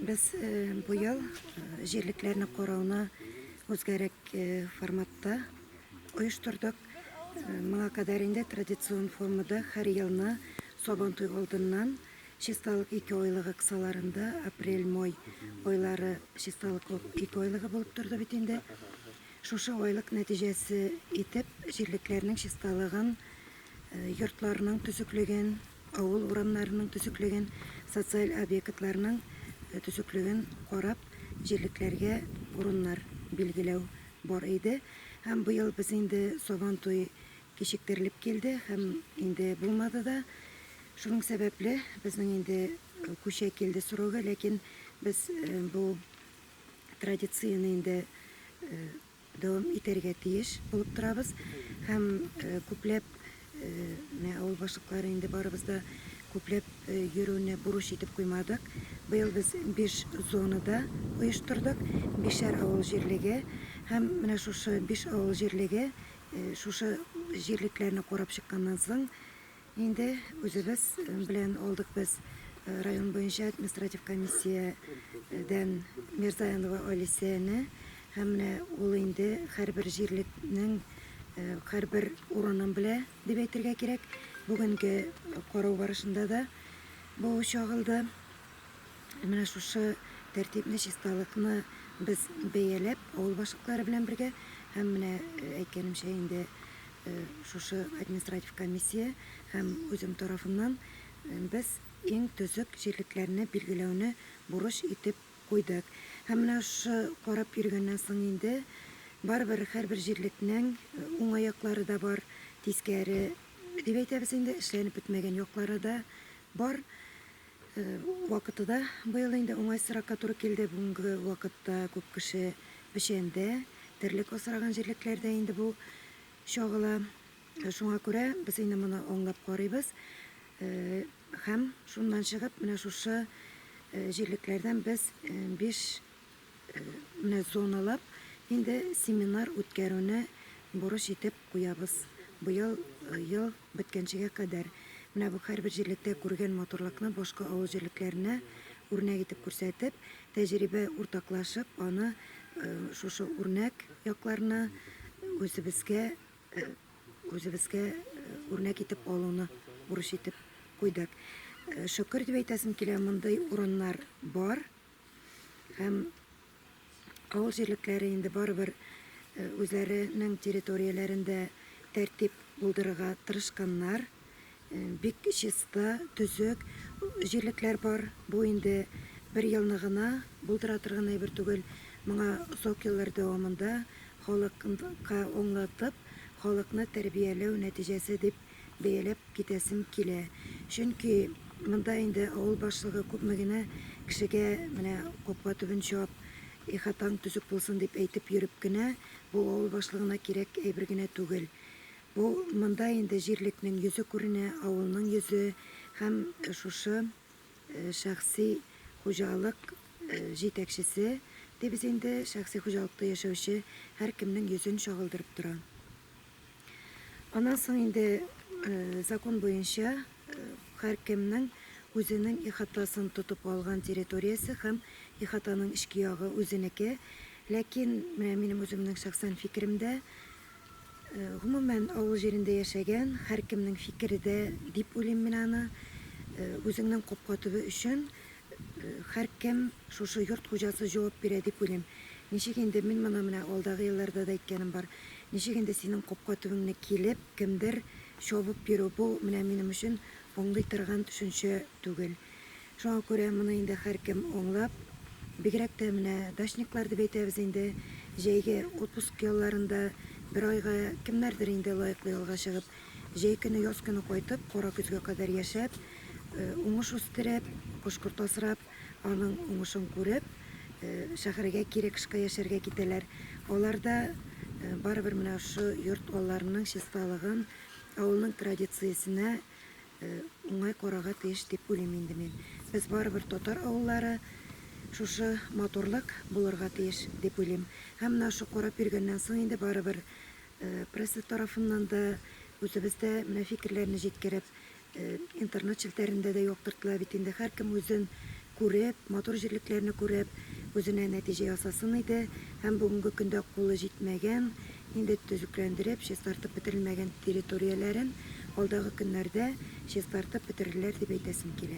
Без бу ел җирлекләрне карауны үзгәрәк форматта оештырдык. Моңа кадәр инде традицион формада һәр елны Сабантуй алдыннан чисталык ике айлыгы кысаларында апрель-май айлары чисталык ике айлыгы булып торды бит инде. Шушы айлык нәтиҗәсе итеп җирлекләрнең чисталыгын, йортларның төзеклеген, Авыл урамнарының төзеклеген, социаль объектларның төзеклеген карап, җирлекләргә урыннар билгеләү бар иде. Һәм быел без инде Сабантуй кичектерелеп килде һәм инде булмады да. Шуның сәбәпле безнең инде күчә килде срогы, ләкин без бу традицияне инде дәвам итәргә тиеш булып торабыз һәм күпләп менә авыл башлыклары инде барыбыз да күпләп йөрүне бурыч итеп куймадык. Быел без биш зонада оештырдык, бишәр авыл җирлеге һәм менә шушы биш авыл җирлеге шушы җирлекләрне карап чыкканнан соң, Инде үзебез белән алдык без район буенча административ комиссиядән Мирзаянова Алисияне һәм менә ул инде һәрбер җирлекнең һәрбер урынын белә дип әйтергә кирәк. Бүгенге карау барышында да бу чагылды. Менә шушы тәртипне, чисталыкны без бәяләп, авыл башлыклары белән бергә һәм менә әйткәнемчә инде шушы административ комиссия һәм үзем тарафыннан без иң төзек җирлекләрне билгеләүне бурыч итеп куйдык. Һәм менә шушы карап йөргәннән соң инде барыбер һәрбер җирлекнең уңай яклары да бар, тискәре дип әйтәбез инде, эшләнеп бетмәгән яклары да бар. Вакыты да быел инде уңайсызракка туры килде. Бүгенге вакытта күп кеше печәндә, терлек асраган җирлекләрдә инде бу чагыла. Шуңа күрә без инде моны аңлап карыйбыз. Һәм шуннан чыгып, менә шушы җирлекләрдән без 5 Ны зоналап, инде семинар үткәрүне бурыч итеп куябыз. Быел ел беткәнчегә кадәр менә бу һәрбер җирлектә күргән матурлыкны башка авыл җирлекләренә үрнәк итеп күрсәтеп, тәҗрибә уртаклашып, аны шушы үрнәк якларны үзебезгә үзебезгә үрнәк итеп алуны бурыч итеп куйдык. Шөкер дип әйтәсем килә, мондый урыннар бар. Һәм авыл җирлекләре инде барыбер э, үзләренең территорияләрендә тәртип булдырырга тырышканнар. Э, бик чиста, төзек җирлекләр бар. Бу инде бер елны гына булдыра торган әйбер түгел. Моңа озак еллар дәвамында халыкка аңлатып, халыкны тәрбияләү нәтиҗәсе дип бәяләп китәсем килә. Чөнки монда инде авыл башлыгы күпме генә кешегә менә капка төбен чап, ихатаң төзек булсын дип әйтеп йөреп кенә, бу авыл башлыгына кирәк әйбер генә түгел. Бу монда инде җирлекнең йөзе күренә, авылның йөзе һәм шушы шәхси хуҗалык җитәкчесе, дибез инде, шәхси хуҗалыкта яшәүче һәркемнең йөзен чагылдырып тора. Аннан соң инде закон буенча һәркемнең үзенең ихатасын тотып алган территориясе һәм ихатаның эчке ягы үзенеке. Ләкин менә минем үземнең шәхсән фикерем дә, гомумән, авыл җирендә яшәгән һәркемнең фикере дә дип уйлыйм мин аны, үзеңнең капка төбе өчен Һәркем шушы йорт хуҗасы җавап бирә дип уйлыйм. Ничек инде, мин моны менә алдагы елларда да әйткәнем бар, ничек инде синең капка төбеңне килеп, кемдер чабып йөрү, бу менә минем өчен аңлый торган төшенчә түгел. Шуңа күрә моны инде һәркем аңлап, бигрәк тә менә дачниклар дип әйтәбез инде, җәйге отпуск ялларында бер айга кемнәрдер инде лаеклы ялга чыгып, Җәй көне, яз көне кайтып, кара көзгә кадәр яшәп, э, уңыш үстереп, кош-корт асрап, аның уңышын күреп, э, шәһәргә кире кышка яшәргә китәләр. Алар да э, барыбер менә шушы йорт алларының чисталыгын, авылның традициясенә э, уңай карарга тиеш дип уйлыйм инде мин. Без барыбер татар авыллары, шушы матурлык булырга тиеш дип уйлыйм. Һәм менә шушы карап йөргәннән соң инде барыбер Пресса тарафыннан да, үзебез дә менә фикерләрне җиткереп, интернет челтәрендә дә яктыртыла бит инде. Һәркем үзен күреп, матур җирлекләрне күреп, үзенә нәтиҗә ясасын иде. Һәм бүгенге көндә кулы җитмәгән, инде төзекләндереп, чистартып бетерелмәгән территорияләрен алдагы көннәрдә чистартып бетерерләр дип әйтәсем килә.